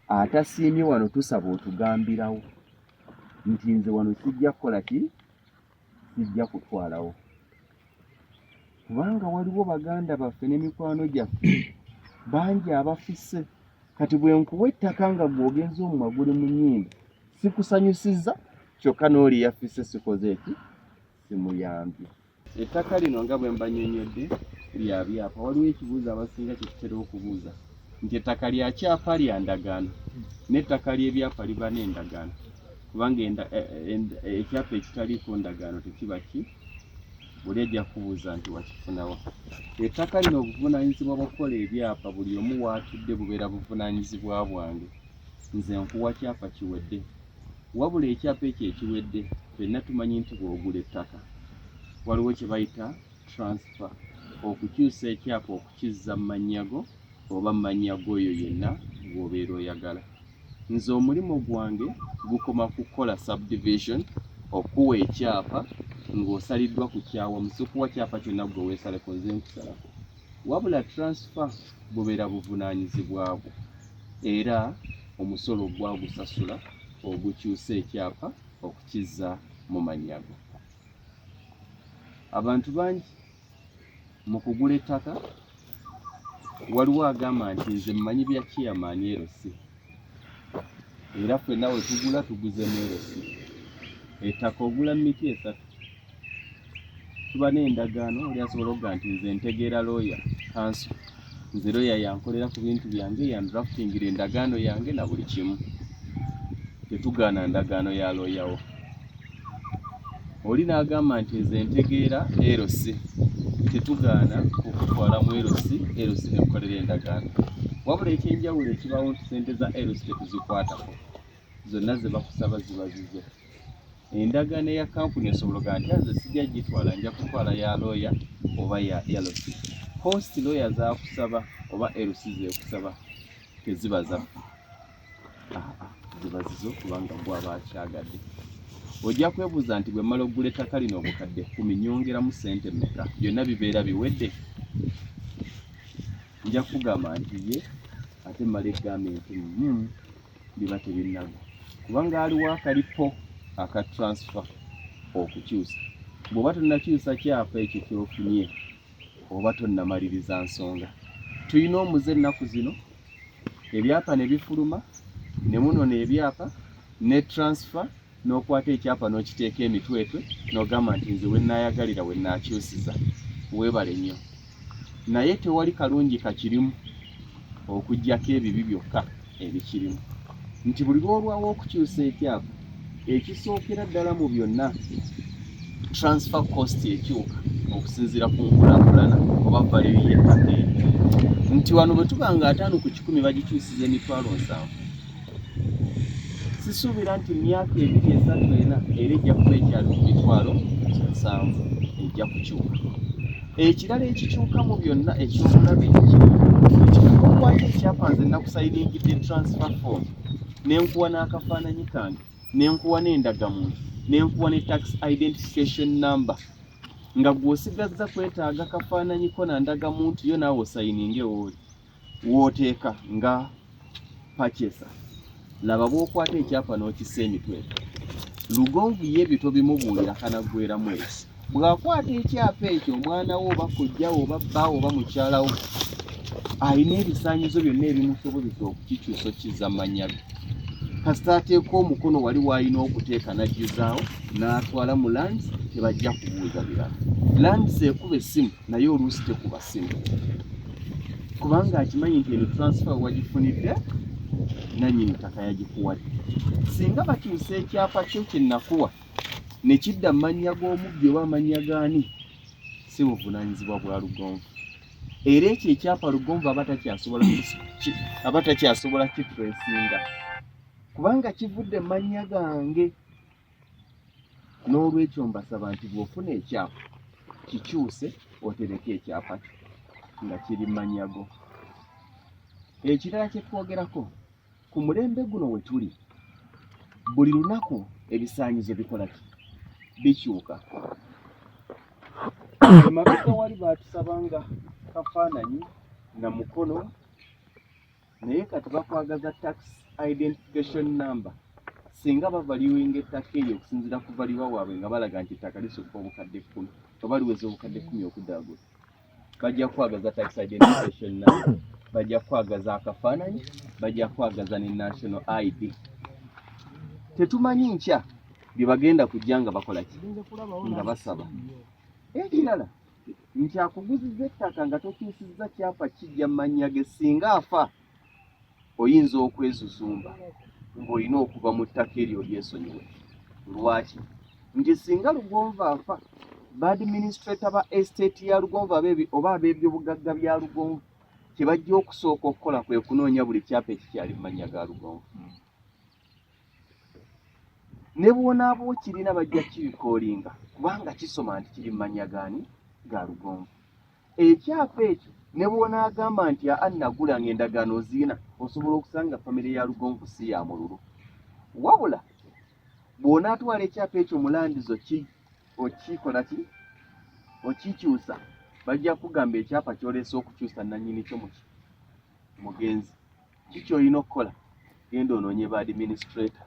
atasiimye wano tusaba otugambirawo nti nze wano sijja kukola ki sijja kutwalawo kubanga waliwo baganda baffe ne mikwano gyaffe bangi abafise kati bwe nkuwa ettaka nga gwogenza omumwa guli mu nyimba sikusanyusiza kyokka n'oli yafise sikoze eki simuyambye Ettaka lino nga bwe mbanyonyodde lya byapa. Waliwo ekibuuzo abasinga kye tutera okubuuza nti ettaka lya kyapa lya ndagaano n'ettaka ly'ebyapa liba n'endagaano kubanga e, e, e, ekyapa ekitaliiko ndagaano tekiba ki buli ejja kubuuza nti wakifunawa. Ettaka lino obuvunaanyizibwa bw'okukola ebyapa buli omu waatudde bubeera buvunaanyizibwa bwange. Nze nkuwa kyapa kiwedde wabula ekyapa ekyo ekiwedde fenna tumanyi nti bw'ogula ettaka waliwo kye bayita transfer okukyusa ekyapa okukizza mu mannya go oba mu mannya g'oyo yenna gw'obeera oyagala nze omulimu gwange gukoma ku kukola subdivision okuwa ekyapa ng'osaliddwa ku kyawa musukuwa kyapa kyonna gwe weesaleko nze nkusalako wabula transfer bubeera buvunaanyizibwa bwo era omusolo gwagusasula ogukyusa ekyapa okukizza mu mannya go abantu bangi mu kugula ettaka waliwo agamba nti nze mmanyi bya chairman LC era fenna we tugula tuguze meerosi ettaka ogula miti esatu tuba n'endagaano oli asobola okuga nti nze ntegeera looya kanso nze looya yankolera ku bintu byange yandraftingira endagaano yange na buli kimu tetugaana ndagaano ya looyawo oli n'agamba nti nze ntegeera LC tetugaana okutwala mu LC LC ne tukolera endagaano wabula ekyenjawulo ekibaawo nti sente za LC tetuzikwatako zonna ze bakusaba ziba zizo endagaano eya kampuni esobola ogaa nti aze sijja gitwala nja kutwala ya looya oba ya LC host looya zakusaba oba LC zekusaba teziba zaffe zibaziza okubanga gwe aba akyagadde ojja kwebuuza nti bwe mmala okugula ettaka lino obukadde kkumi nyongeramu ssente mmeka byonna bibeera biwedde nja kugamba nti ye ate mmala eggambe nti mm, biba tebinnago kubanga aliwo akalipo aka transfer okukyusa bw'oba tonnakyusa kyapa ekyo kyofunye oba tonnamaliriza nsonga tulina omuze ennaku zino ebyapa ne bifuluma ne munona ebyapa ne transfer n'okwata ekyapa n'okiteeka emitwetwe n'ogamba nti nze wenaayagalira wenaakyusiza weebale nnyo naye tewali kalungi kakirimu okugyako ebibi byokka ebikirimu nti buli lwolwawo okukyusa ekyapa ekisookera ddala mu byonna transfer cost ekyuka okusinziira ku nkulakulana oba valeyo yettaka nti wano bwe tuba nga ataano ku kikumi bagikyusiza emitwalo nsanvu sisuubira nti myaka ebiri esatu ena era ejja kuba ekyali ku mitwalo nsanvu ejja kukyuka ekirala ekikyuka mu byonna ekyobulabe ekikakwayo ekyapanze nakusayiningidde transfer form ne nkuwa n'akafaananyi kange ne nkuwa n'endagamuntu ne nkuwa ne tax identification number nga gw'osigazza kwetaaga kafaananyiko na ndagamuntu yo naawe osayininga ewooli wooteeka nga pachesa laba bw'okwata ekyapa n'okissa emitwe lugonvu ye ebyo tobimubuulira kanaggweramu ekyo bw'akwata ekyapa ekyo omwana wo oba kojja wo oba bba oba mukyala wo alina ebisaanyizo byonna ebimusobozesa okukikyusa okkiza mannya ge kasita ateeka omukono wali waalina okuteeka n'ajjuzaawo n'atwala mu lands tebajja kubuuza birala lands ekuba essimu naye oluusi tekuba ssimu kubanga akimanyi nti eno transfer wagifunidde nannyini ttaka yagikuwadde singa bakyusa ekyapa kyo kye nakuwa ne kidda mu mannya g'omubbi oba amannya gaani si buvunaanyizibwa bwa lugonvu era ekyo ekyapa lugonvu aba takyasobola aba takyasobola kitresinga kubanga kivudde mu mannya gange n'olwekyo mbasaba nti bw'ofuna ekyapa kikyuse otereke ekyapa kyo nga kiri mannya go ekirala kye twogerako ku mulembe guno we tuli buli lunaku ebisaanyizo bikola ki bikyuka emabega wali baatusaba nga kafaananyi na mukono naye kati bakwagaza tax identification number singa bavaluinga ettaka eryo okusinzira ku valiwa waabwe nga balaga nti ettaka lisukka obukadde kkumi oba liweza obukadde kkumi okuddaagula bajja kukwagaza tax identification number bajja kukwagaza akafaananyi bajja kukwagaza ne national id tetumanyi nkya bye bagenda kujja nga bakola ki nga basaba ekirala nti akuguziza ettaka nga tokyusizza kyapa kijja mu mannya ge singa afa oyinza okwezuzumba ng'olina okuva mu ttaka eryo lyesonyiwe lwaki nti singa lugonva afa baadministrator ba estate ya lugonvu abebi oba abebyobugagga bya lugonvu kyebajja okusooka okukola kwe kunoonya buli kyapa ekikyali mumanya ga lugonvu hmm. ne bwonaaba okirina bajja kibikoolinga kubanga kisoma nti kiri mumanya gaani ga lugonvu ekyapa ekyo ne bwonaagamba nti aa nagula nga endagaano oziina osobola okusanga famire ya lugonvu si ya mululu wabula bw'onaatwala ekyapa ekyo mulandizo ki okikola ki okikyusa bajja kugamba ekyapa kyoleese okukyusa nanyini kyo muki mugenzi ki kyolina okukola genda onoonye ba administrator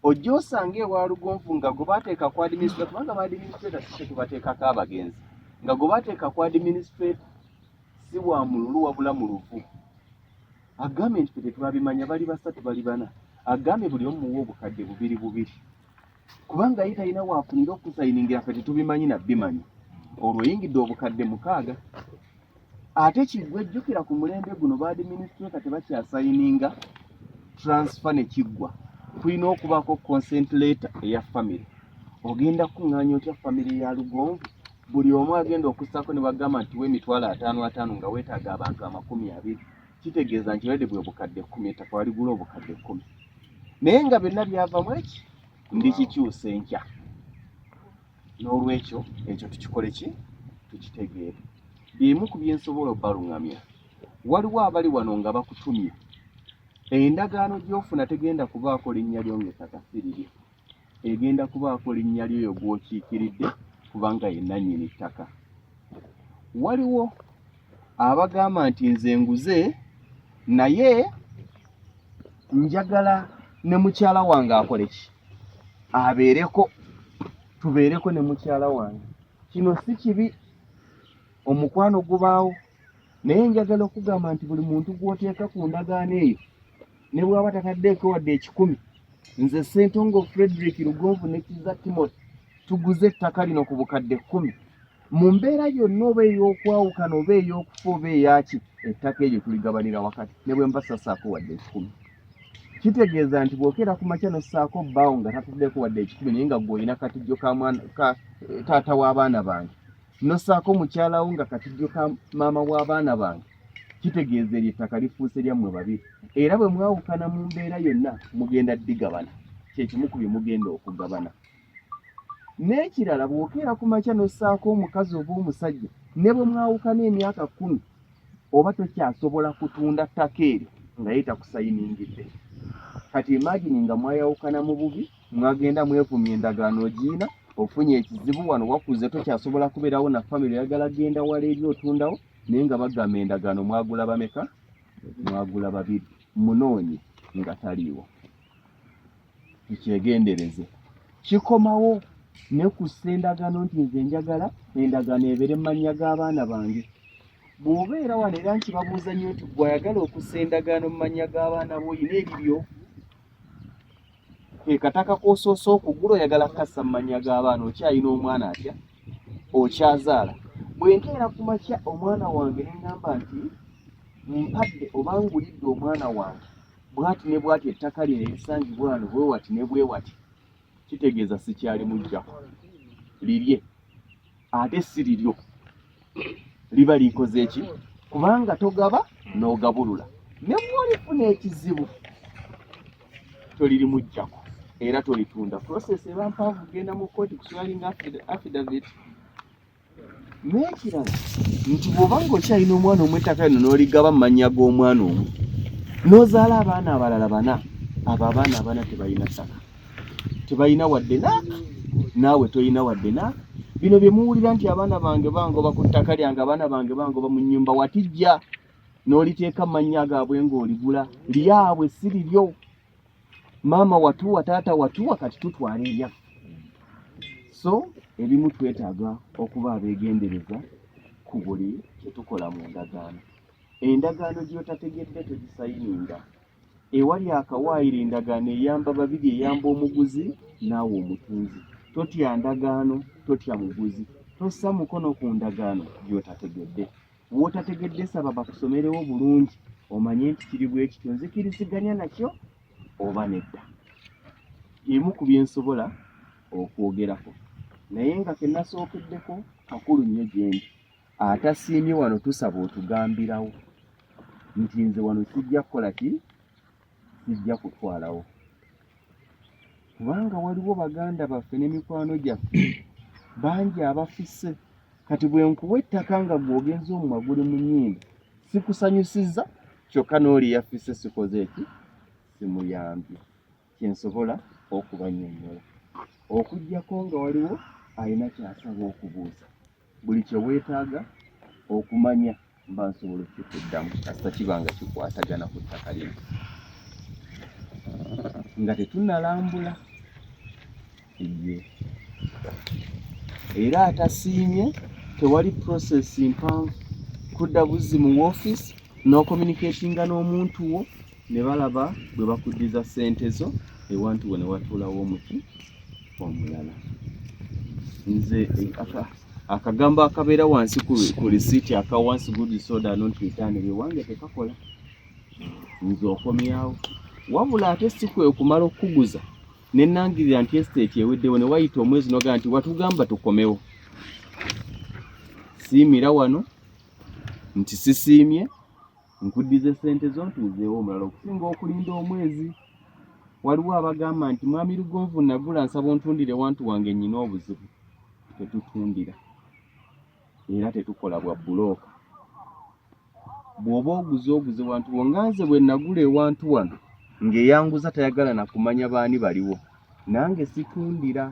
ojja osanga ewa lugonvu nga gwe bateeka ku administrator kubanga ba administrator si kyetubateekako abagenzi nga gwe bateeka ku administrator si wa mululu wabula mu luvu agambye nti fe tetwabimanya bali basatu bali bana agambye buli omu muwa obukadde bubiri bubiri kubanga ye talina waafunira okusayiningira fe tetubimanyi nabbimanya olwo yingidde obukadde mukaaga ate kiggwe jjukira ku mulembe guno baadiminisitule ka tebakyasayininga transfer ne kiggwa kulina okubaako consent letter eya famire ogenda kukuŋŋaanya otya famire ya lugonvu buli omu agenda okussaako ne bagamba nti wemitwalo ataano ataano nga weetaaga abantu amakumi abiri kitegeeza nti redi bwe bukadde kkumi ettaka waligula obukadde kkumi naye nga byonna byavamu eki ndikikyusa enkya n'olwekyo ekyo tukikole ki tukitegeere byemu ku byensobola obaluŋamya waliwo abali wano nga bakutumye endagaano gy'ofuna tegenda kubaako linnya lyo ng'ettaka siriryo egenda kubaako linnya lyoyo gw'okiikiridde kubanga ye nannyini ttaka waliwo abagamba nti nze nguze naye njagala ne mukyala wange akole ki abeereko tubeereko ne mukyala wange kino si kibi omukwano gubaawo naye njagala okugamba nti buli muntu gwoteeka ku ndagaano eyo ne bwaba tataddeeko wadde ekikumi nze sentongo frederick lugonvu nekiza timothy tuguze ettaka lino ku bukadde kkumi mu mbeera yonna oba ey'okwawukana oba ey'okufa oba eyaki ettaka eryo tuligabanira wakati ne bwe mbasasaako wadde ekikumi kitegeeza nti bwokeera ku makya nossaako bbaawo nga tataddeeko wadde ekikumi naye nga gweolina katijjo ka eh, taata w'abaana bange nosaako mukyala wo nga katijjo ka maama w'abaana bange kitegeeza eryo ettaka lifuuse lyammwe babiri era bwe mwawukana mu mbeera yonna mugenda digabana kyekimu ku bye mugenda okugabana n'ekirala bw'okeera ku makya n'ossaako omukazi oba omusajja ne bwe mwawukana emyaka kkumi oba tokyasobola kutunda ttaka eryo nga ye takusayiningidde kati imagini nga mwayawukana mu bubi mwagenda mwevumya endagaano ogiina ofunye ekizibu wano wakuze tokyasobola kubeerawo na famire oyagala genda wala eri otundawo naye nga bagamba endagaano mwagula bameka mwagula babiri munoonye nga taliiwo tukyegendereze kikomawo nekussa endagaano nti nze njagala endagaano ebeere mu mannya g'abaana bange bw'obeera wano era nkibabuuza nnyo nti gweayagala okussa endagaano mu mannya g'abaana bo olina ebibyo ke kataka k'osoose okugula oyagala kukassa mu mannya g'abaana okyalina omwana atya okyazaala bwe nkeera ku makya omwana wange ne ŋŋamba nti mpadde oba ngulidde omwana wange bwati ne bwati ettaka lino erisangibwa wano bwe wati ne bwe wati kitegeeza sikyali mujjako lirye ate si liryo liba likoze eki kubanga togaba n'ogabulula ne bwolifuna ekizibu tolirimujjako era tolitunda process eba mpanvu kugenda mu kkooti kuswalinga affidavit n'ekirala nti bw'oba ng'okyalina omwana omu ettaka lino n'oligaba mu mannya g'omwana omu n'ozaala abaana abalala bana abo abaana abana tebalina ttaka tebalina wadde naaka naawe tolina wadde naaka bino bye muwulira nti abaana bange bangoba ku ttaka lyange abaana bange bangoba mu nnyumba watijja n'oliteeka amannya gaabwe ng'oligula lyabwe si liryo maama watuwa taata watuwa kati tutwala ebyaffe so ebimu twetaaga okuba abeegendereza ku buli kye tukola mu ndagaano endagaano gy'otategedde togisayininga Ewali akawaayiro endagaano eyamba babiri, eyamba omuguzi naawe omutunzi. Totya ndagaano, totya muguzi, tossa mukono ku ndagaano gy'otategedde. W'otategedde saba bakusomerewo bulungi omanye nti kiri bwe kityo, nzikiriziganya nakyo oba nedda. Emu ku bye nsobola okwogerako naye nga ke nasookeddeko kakulu nnyo gyendi. atasiimye wano tusaba otugambirawo nti nze wano kijja kukola ki kijja kutwalawo kubanga waliwo baganda baffe ne mikwano gyaffe bangi abafise kati bwe nkuwa ettaka nga gwogenza omumwa guli mu nyimba sikusanyusiza kyokka n'oli yafise sikoze eki simuyambye kye nsobola okubannyonnyola okuggyako nga waliwo alina ky'asaba okubuuza buli kye weetaaga okumanya mba nsobola okukikuddamu kasita kiba nga kikwatagana ku ttaka lino nga tetunnalambula ye era atasiimye tewali process mpanvu kudda buzzi mu wofiisi n'okomuniketinga n'omuntu wo ne balaba bwe bakuddiza ssente zo ewantu wo ne watuulawo omuti omulala nze akagambo akabeera wansi ku lisiiti aka once good soda not return ewange tekakola nze okomyawo wabula ate si kwe okumala okukuguza ne nnangirira nti esiteeti eweddewo ne wayita omwezi nogaa nti watugamba tukomewo siimira wano nti sisiimye nkuddiza essente zo ntuuzeewo omulala okusinga okulinda omwezi waliwo abagamba nti mwami lugonvu nagula nsaba ontundire wantu wange nnyina obuzibu tetutundira era tetukola bwa bulooka bw'oba oguze oguze wantu wo nga nze bwe nagula ewantu wano ng'eyanguza tayagala na kumanya baani baliwo nange situndira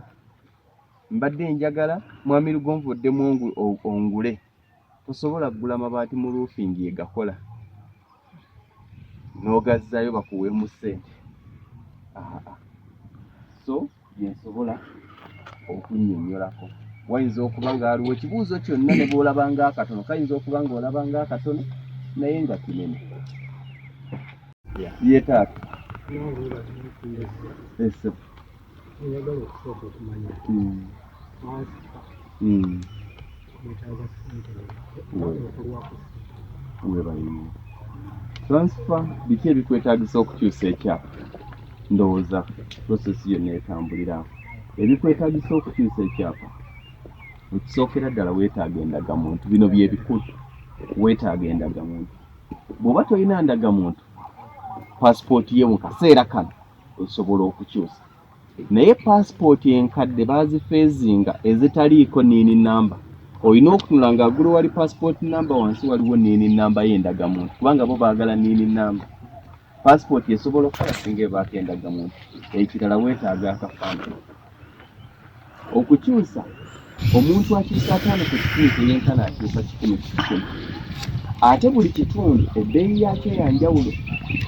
mbadde njagala mwami lugonvu oddemu ongule tosobola kugula mabaati mu luufingi yegakola n'ogazzaayo bakuweemu ssente so byensobola okunnyonnyolako wayinza okuba nga aliwo ekibuuzo kyonna ne bw'olaba nga akatono kayinza okuba nga olaba nga akatono naye nga kinene ye taata ese oyagala okusooka okumanya hmm. hmm. webalimo transfer biki ebikwetagisa okukyusa ekyapa ndowooza process yonna etambulira ebikwetagisa okukyusa ekyapa ekisookera ddala weetaaga endagamuntu bino byebikulu weetaaga endagamuntu bw'oba tolina ndagamuntu pasipooti ye mu kaseera kano osobola okukyusa naye paasipooti enkadde baazifeezinga ezitaliiko niini namba olina okutunula nga agulu wali paasipooti namba wansi waliwo niini namba ye endagamuntu kubanga bo baagala niini namba paasipooti esobola okukola singa ebaako endagamuntu ekirala weetaaga akafaanana okukyusa omuntu akyusa ataano ku kikumi teyenkana akyusa kikumi kikumi ate buli kitundu ebbeeyi yakyo yanjawulo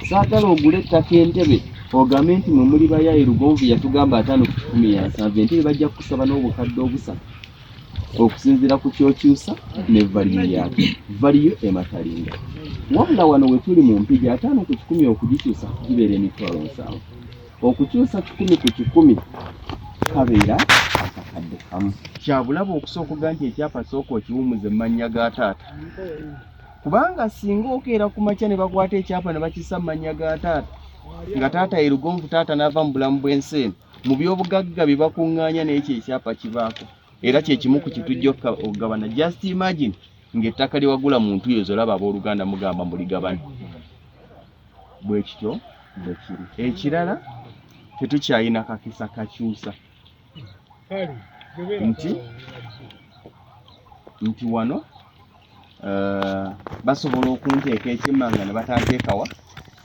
saagala ogula ettaka entebe ogambe nti mwe muli bayaye lugonvu yatugamba ataano ku kikumi yansanvu entebe bajja kukusaba n'obukadde obusatu okusinziira ku kyokyusa ne valiyo yakyo valiyo ematalinga wabula wano wetuli mu mpigi ataano ku kikumi okugikyusa gibeera emitwalo nsanvu okukyusa kikumi ku kikumi kabeera akakadde kamu kyabulaba okusooka oga nti ekyapa sooka okiwumuza emannya ga taata kubanga singa okeera ku makya ne bakwata ekyapa ne bakisa mu mannya ga taata nga taata ye lugonvu taata n'ava mu bulamu bw'ensi eno mu byobugagga bye bakuŋŋaanya n'ekyo ekyapa kibaako era kye kimu ku kitujja okugabana just imagine ng'ettaka lye wagula mu ntuyo zolaba abooluganda mugamba muligabana bwe kityo bwe kiri. Ekirala tetukyalina kakisa kakyusa nti nti wano eh, basobola okunteeka ekyemmanga ne batanteekawa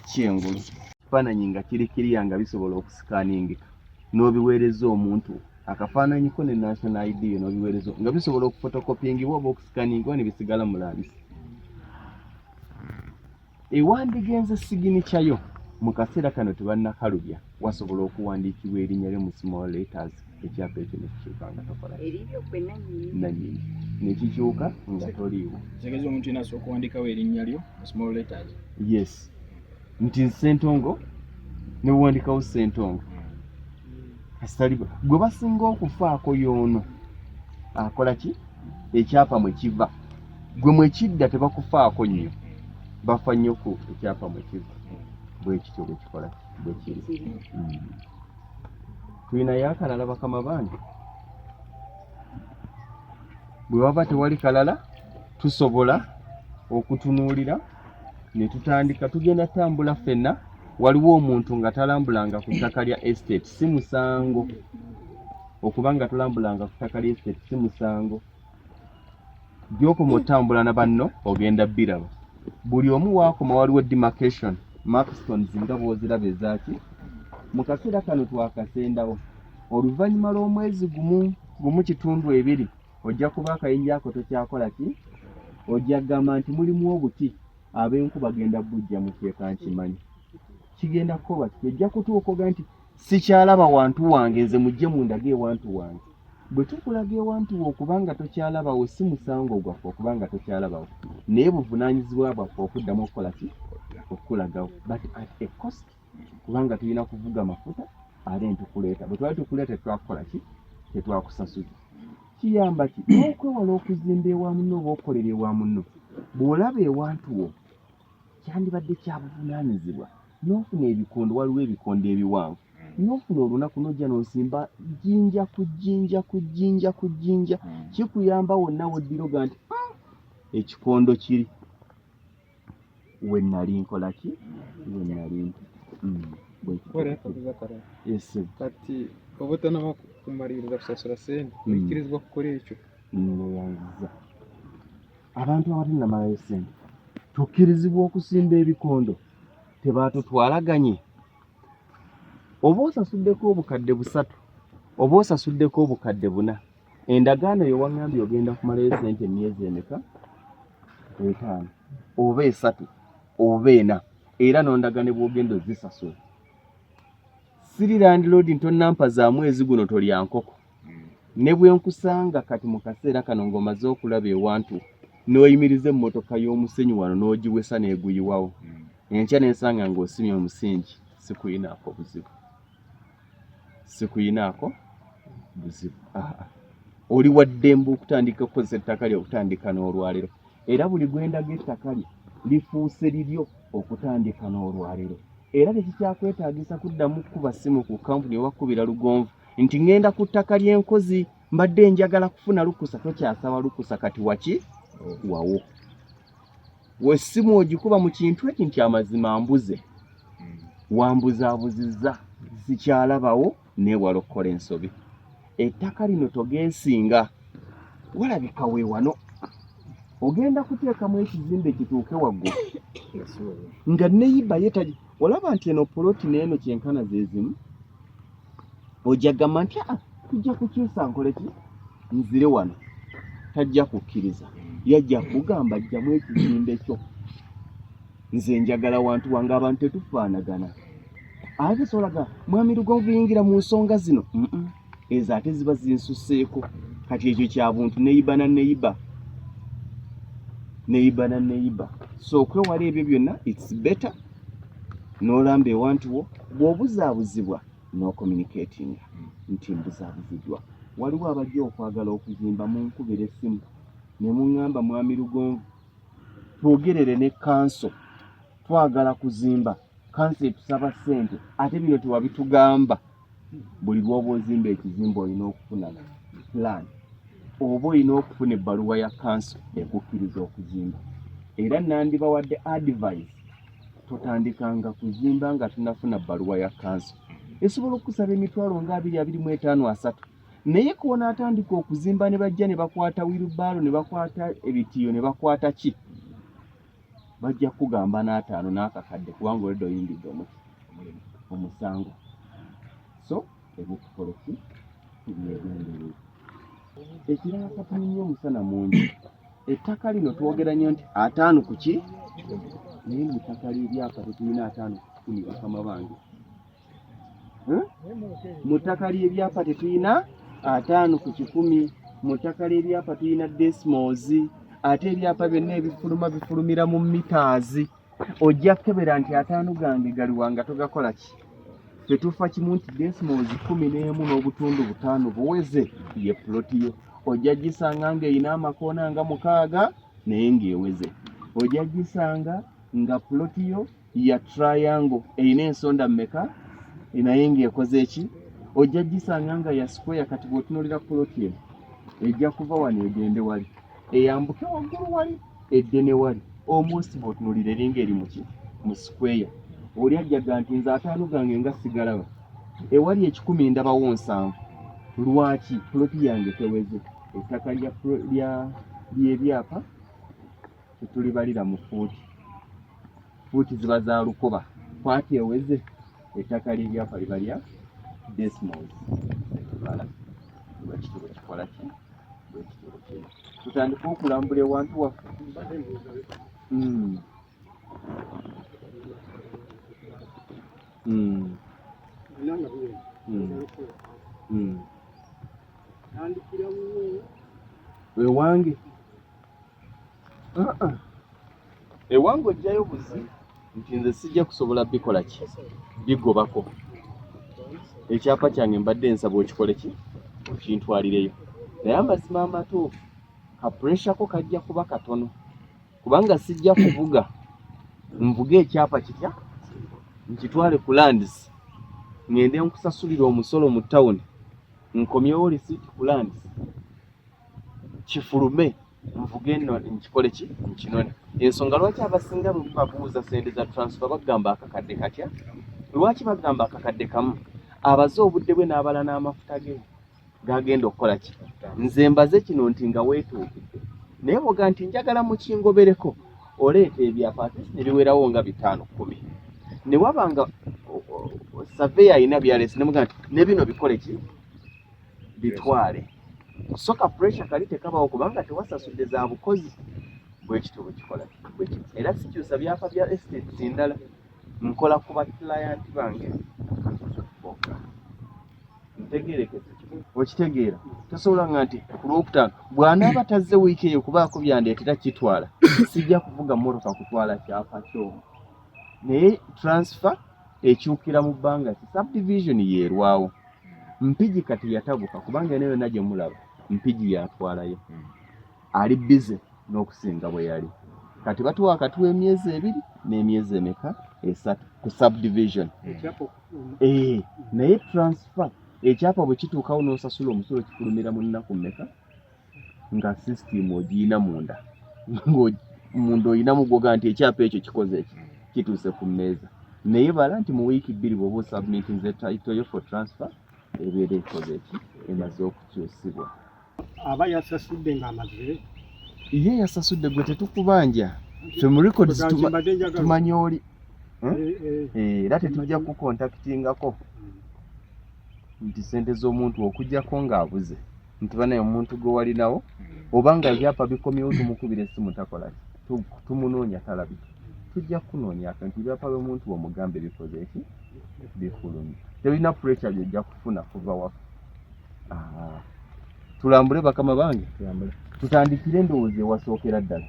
kyengulu ekifaananyi nga kiri kiriya nga bisobola okusikaningika n'obiweereza omuntu akafaananyiko ne national id yo n'obiweereza nga bisobola okufotokopingibwa oba okusikaningibwa ne bisigala mu landisi ewandigenze siginikya yo mu kaseera kano tebannakalubya wasobola okuwandiikibwa erinnya lyo mu small letters ekyapa ekyo nekikyuka nga tokola nanyini nekikyuka nga toliiwo tegeza omuntu yena asobola okuwandikawo erinnya lyo mu small letters yes nti sentongo newuwandikawo sentongo kasitaliba gwe basinga okufaako yoono akola ki ekyapa mwe kiva gwe mwekidda tebakufaako nnyo bafa nnyo ku ekyapa mwekiva bwekityo bwekikola bwekiri hmm. tulinayo akalala bakama bange bwe waba tewali kalala tusobola okutunuulira ne tutandika tugenda tambula ffenna waliwo omuntu nga talambulanga ku ttaka lya estate si musango okuba nga tulambulanga ku ttaka lya estate si musango gyokoma otambula na banno ogenda biraba buli omu wakoma waliwo demarcation maxtons nga bwoziraba ezaki mu kaseera kano twakasendawo oluvannyuma lw'omwezi gumu gumu kitundu ebiri ojja kuba akayinja ako tokyakola ki ojja kugamba nti mulimu obuti ab'enku bagenda bujja mu kyeka nkimanyi kigenda kukoba ti ojja kutuukoga nti sikyalaba wantu wange nze mujje mundage ewantu wange bwe tukulaga ewantu wo okubanga tokyalabawo si musango gwaffe okubanga tokyalabawo naye buvunaanyizibwa bwaffe okuddamu okukola ki okukulagawo but at a cost kubanga tulina kuvuga mafuta ate ntukuleeta bwe twali tukuleeta tetwakukola ki tetwakusasuza kiyamba ki n'okwewala okuzimba ewa muno oba okolera ewa muno bw'olaba ewantu wo kyandibadde kya buvunaanyizibwa n'ofuna ebikondo waliwo ebikondo ebiwanvu hmm. n'ofuna olunaku n'ojja n'osimba jjinja ku jjinja ku jjinja ku jjinja hmm. kikuyamba wonna woddiroga nti ah, ekikondo kiri we nali nkola ki we nali hmm. kati oba otanaba kumaliriza kusasula sente oyikirizibwa kukola ekyo noyanziza abantu abatanamalayo sente tukkirizibwa okusimba ebikondo tebaatutwalaganye oba osasuddeko obukadde busatu oba osasuddeko obukadde buna endagaano eyo waŋambye ogenda kumalayo sente emyezi emeka etaano oba esatu oba ena era nondaga ne bwogenda ozisasula siri landiloodi ntonampa za mwezi guno tolya nkoko ne bwe nkusanga kati mu kaseera kano ng'omaze okulaba ewantu n'oyimiriza emmotoka y'omusenyu wano n'ogiwesa n'eguyiwawo hmm. enkya n'ensanga ng'osimye omusingi sikuyinaako buzibu sikuyinaako buzibu oli waddembe okutandika okukozesa ettaka lye okutandika n'olwaliro era buli gwendaga ettaka lye lifuuse liryo okutandika n'olwaliro era tekikyakwetaagisa kuddamu kukuba ssimu ku kampuni oba kukubira lugonvu nti ŋŋenda ku ttaka ly'enkozi mbadde njagala kufuna lukusa tokyasaba lukusa kati waki wawo wessimu ogikuba mu kintu eki nti amazima mbuze hmm. wambuzabuzizza sikyalabawo neewala okukola ensobi ettaka lino togeesinga walabika weewano ogenda kuteekamu ekizimbe kituuke waggulu nga neyiba yetagi olaba nti eno poloti neeno kyenkana zeezimu ojja gamba nti ah, tujja kukyusa nkoleki nzire wano tajja kukkiriza yajja kugamba jjamu ekizimbe kyo nze njagala wantu wange abantu tetufaanagana ate solaga mwami lugonvu yingira mu nsonga zino ezo ate ziba zinsuseeko kati ekyo kya buntu neyiba na neyiba neyiba na neyiba so okwewala ebyo byonna its better n'olamba ewantu wo bw'obuzaabuzibwa n'okomunikeetinga hmm. nti mbuzaabuzidwa waliwo abajja okwagala okuzimba mu nkubira essimu ne muŋŋamba mwami lugonvu twogerere ne kanso twagala kuzimba kanso etusaba ssente ate bino tewabitugamba buli lwoba ozimba ekizimba olina okufuna plan oba olina okufuna ebbaluwa ya kanso ekukkiriza okuzimba era nandibawadde advise totandikanga kuzimba nga tunafuna bbaluwa ya kanso esobola okukusaba emitwalo nga abiri abiri mu etaano asatu naye kuona atandika okuzimba ne bajja ne bakwata wirubaalo ne bakwata ebitiyo ne bakwata ki bajja kugamba n'ataano n'akakadde kubanga oleda oyingidde omusango so ebyokukoleki tubyegendere ekirala katuli nnyo omusana mungi ettaka lino twogera nnyo nti ataano ku ki naye mu ttaka ly'ebyapa tetulina ataano ku kumi bakama bange hmm? mu ttaka ly'ebyapa tetulina ataano ku kikumi mu ttaka ly'ebyapa tulina desmos ate ebyapa byonna ebifuluma bifulumira mu mitaazi ojja kukebera nti ataano gange galiwa nga togakola ki tetufa kimu nti desmos kumi n'emu n'obutundu butaano buweze ye puloti yo ojja gisanga ng'erina amakoona nga mukaaga naye ng'eweze ojja gisanga nga puloti yo ya triangle erina ensonda mmeka naye ng'ekoze eki ojja gisanga nga ya square kati bw'otunuulira poloti eno ejja kuva wano egende wali eyambuke waggulu wali edde ne wali almost bw'otunuulira eringa eri muki mu square oli ajjaga nti nze ataano gange nga sigalaba ewali ekikumi ndabawo nsanvu lwaki poloti yange teweze ettaka lyebyapa tetulibalira mu fuuti fuuti ziba za lukoba kwati eweze ettaka ly'ebyapa libalya desmos etubala nga kitubo kikola ki bwekitubo kino tutandika okulambula ewantu waffe hmm. Hmm. Hmm. ewange uh-uh. ewange ojjayo buzi nti nze sijja kusobola bikola ki bigobako ekyapa kyange mbadde nsaba okikole ki okintwalireyo naye amazima amatuufu kapuresyako kajja kuba katono kubanga sijja kuvuga nvuge ekyapa kitya nkitwale ku landis ngende nkusasulira omusolo mu tawuni nkomyewo lisiiti ku landis kifulume nvuge no nkikole ki nkinone ensonga lwaki abasinga mu babuuza sente za transfer bagamba akakadde katya lwaki bagamba akakadde kamu abaze obudde bwe n'abala n'amafuta ge gagenda okukola ki nze mbaze kino nti nga weetuukidde naye woga nti njagala mukingobereko oleeta ebyapa atisi ne biwerawo nga bitaano kkumi ne waba nga saveya alina byaleesi nemuga nti ne bino bikole ki bitwale so ka pressure kali tekabawo kubanga tewasasudde za bukozi bwekityo bwekikola era sikyusa byapa bya estates endala nkola ku ba client bange bokka ntegerekese okitegeera tosobola nga nti ku lwokutaano bw'anaaba tazze wiiki eyo kubaako byandeetera kitwala sijja kuvuga mmotoka kutwala kyapa kyomu naye transfer ekyukira mu bbanga ki subdivision yeerwawo mpigi kati yatabuka kubanga eno yonna gye mulaba mpigi yatwalayo hmm. ali bize n'okusinga bwe yali kati batuwa akatuwa emyezi ebiri n'emyezi emeka esatu ku subdivision hmm. eh, naye transfer ekyapa bwe kituukawo n'osasula omusolo kifulumira mu nnaku mmeka nga system ogiyina munda munda oyinamu gwoga nti ekyapa ekyo kikoze eki kituuse ku mmeeza naye bala nti mu wiiki bbiri bwoba osubmitinze title yo for transfer ebeera ekoze eki emaze okukyusibwa aba yasasudde ngaamaze ye yasasudde gwe tetukubanja fe mu records tumanya oli hmm? eh, eh. Eh, era tetujja kukontaktingako hmm. nti sente z'omuntu okujjako ng'abuze nti banaye omuntu gwe walinawo hmm. oba nga ebyapa bikomyewo tumukubira esimu takola tumunoonya talabika tujja kukunoonya fe nti ebyapa by'omuntu bwomugambe bikoze eki bifulumye tebirina purekya byojja kufuna kuva wafe ah. tulambule bakama bange tutandikire endowooza ewasookera ddala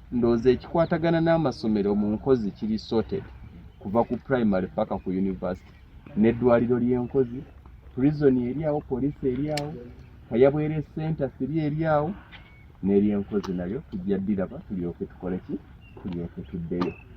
ndowooza ekikwatagana n'amasomero mu nkozi kiri sorted kuva ku primary paka ku university n'eddwaliro ly'enkozi prison eri awo poliisi eri awo kayabwere center siri eri awo n'eryenkozi nayo tujja ddiraba tulyoke tukoleki tulyoke tuddeyo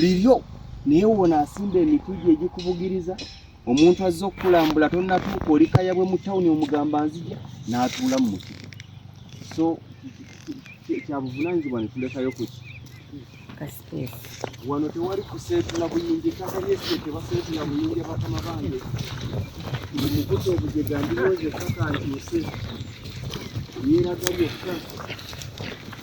liryo naye wona asimba emiti gye egikubugiriza omuntu azze okukulambula tonatuuka oli kayabwe mu tawuni omugamba nzija n'atuula mu muti so kyabuvunanyizibwa netulekayo kuki wano tewali kuseetula buyingi ettaka lyesio tebaseetula buyingi abatama bange mukuta obujega ndiwoza ettaka nkyuse lyeraga lyokka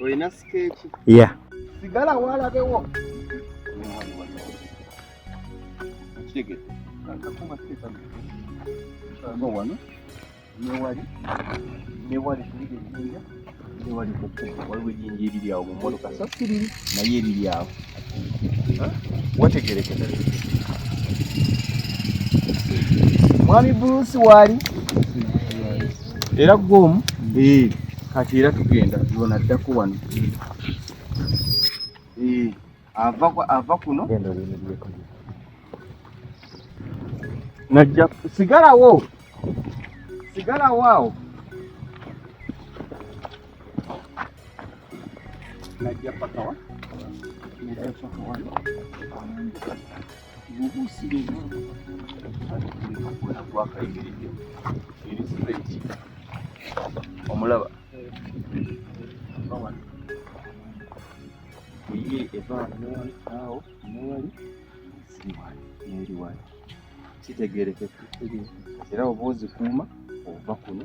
olina sikeeki ya sigala walabewo kitegete kakuma sikeeka nga wano newali newali kuliga ejinja newali kukuba waliwo ejinja eriri awo mu mmotoka so siriri naye eriri awo wategerekera mwami brusi waali era gwomu eh, kati era tugenda yona addako wano eh, ava kuno najja sigalawo sigalawo awo Najja paka wa? Najja paka wa? Gugu siri. Kuna kwa kaidi. Ili straight. Omulaba. Omulaba. Iye eva mwali awo mwali siri wali. Mwali wali. Kitegerekeka. Era obuuzi kuuma ova kuno.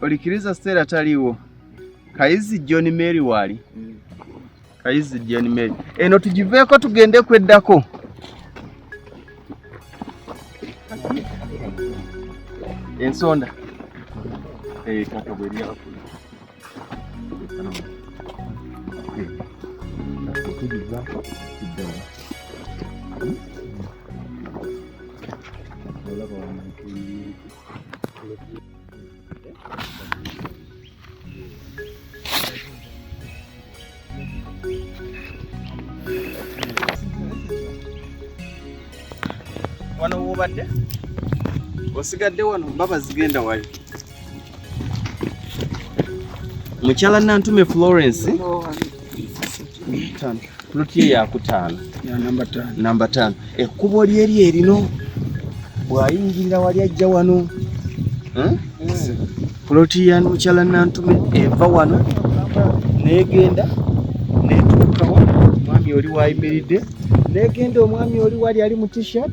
olikiriza Stella taliwo kayizi John Mary wali mm. kayizi John Mary eno tugiveeko tugende kweddako ensonda eh, kaka bweriakula wano wobadde osigadde wano baba zigenda wali mukyala nantume florence Ploti ye yakutaano namba taano ekkubo lyeri erino bw'ayingirira wali ajja wano hmm? ploti ya mukyala Nantume eva wano n'egenda n'etuukawa omwami oli wayimiridde n'egenda omwami oli wali ali mu t-shirt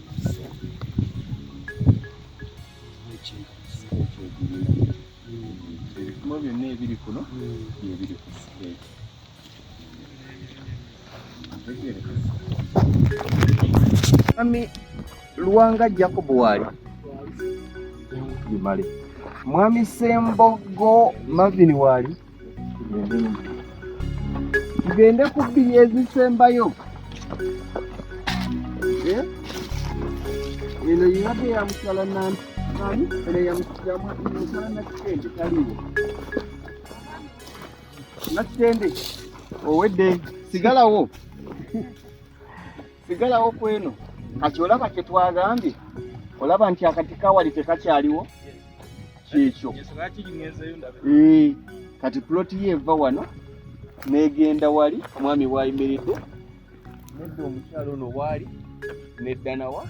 byonna ebiri kuno byebiri ku siteeki mwami luwanga jacob waali bimale mwami sembogo mavini waali tugende ku bbiri ezisembayo eh? eno yinate yamusala nani eno yamusala nakitende taliwo nakitende owedde sigalawo sigalawo kweno kati olaba kyetwagambye olaba nti akati kawali tekakyaliwo kyekyo eh, kati ploti ye eva wano negenda wali omwami wayimiridde nedda omukyalo ono waali neddanawa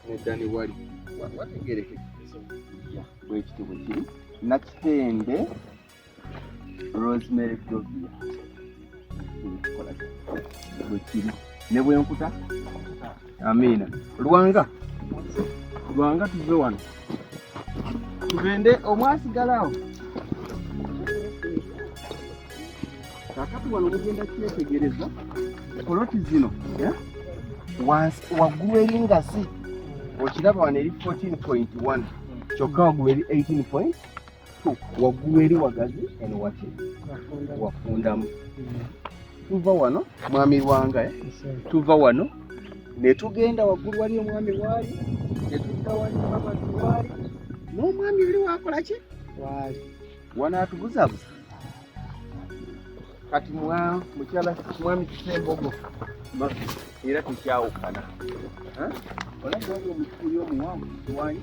neddani wali wategerekebwekitibwe kiri nakitende Rosemary Dovia bwekiri ne bwenkuta amiina lwanga lwanga tuve wano tugende omwasigalawo kakati wano mugenda kyetegereza poloti zino eh? waggulu eri ngazi okiraba wano eri 14.1 kyokka waggulu eri 18. waggulu eri wagazi eno waki wafundamu tuva wano mwami wanga eh? tuva wano netugenda waggulu wali omwami waali netudda wali mamazi waali n'omwami oli wakolaki waali wanaatubuzabuza kati mukyala mwami kisembogo era tekyawukana olaba omukuuli omuwanvu kiwanyi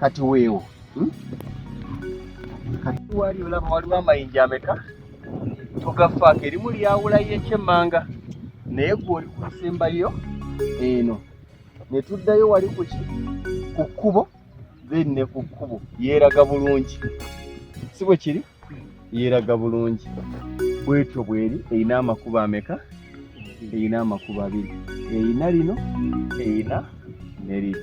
kati weewo hmm? kati wali olaba waliwo amayinja ameka togafaako erimu lyawulayo ekyemmanga naye gwe oli ku nsembayo eno ne tuddayo wali kuki ku kkubo then ne ku kkubo yeeraga bulungi si bwe kiri yeeraga bulungi bwetyo bweri erina amakubo ameka erina amakubo abiri erina lino erina ne liri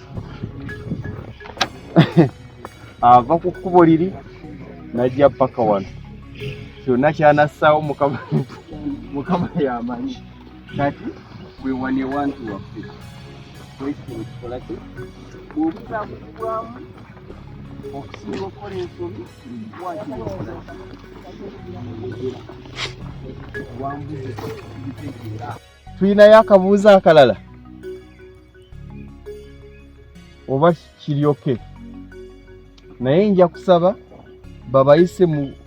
ava ku kkubo liri najja paka wano kyonna kyanassaawo mukama mukama yamanyi kati wewane wantu waffe ekitabo kikola ki bwobuzabuzibwamu okusinga okukola ensobi wakiwakola wambuzi kitegeera tulinayo akabuuza akalala oba kiryoke naye nja kusaba babayise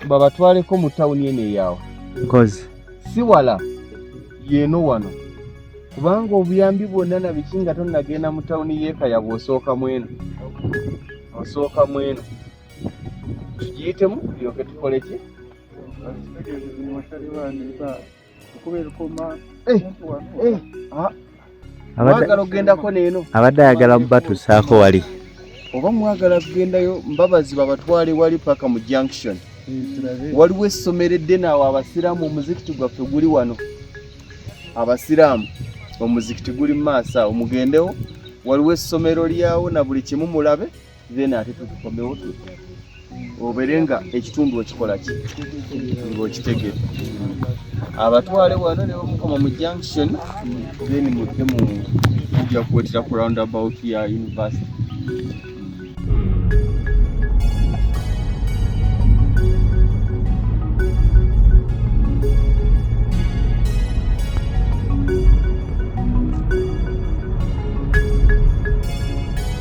babatwaleko mu tawuni eno eyawa nkozi si wala yeeno wano kubanga obuyambi bwonna nabiki nga tonagenda mu tawuni yeekaya bwosooka mweno osooka mweno tugiyitemu yoke tukoleki Eh, eh. Ah. mwagala okugendako neeno abadde ayagala mubatusaako wali oba mwagala kugendayo mbabazi babatwale wali paka mu junction eh, waliwo essomero eddene awo abasiraamu omuzikiti gwaffe guli wano abasiraamu omuzikiti guli mu maaso awo mugendewo waliwo essomero lyawo na buli kimu mulabe then ate tutukomewo tutya obere nga ekitundu okikola ki ng'okitegere abatwale wano ne bamukoma mu junction then mudde mu kujja kuwetera ku round about ya university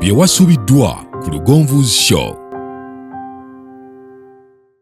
byewasubiddwa ku lugonvu's show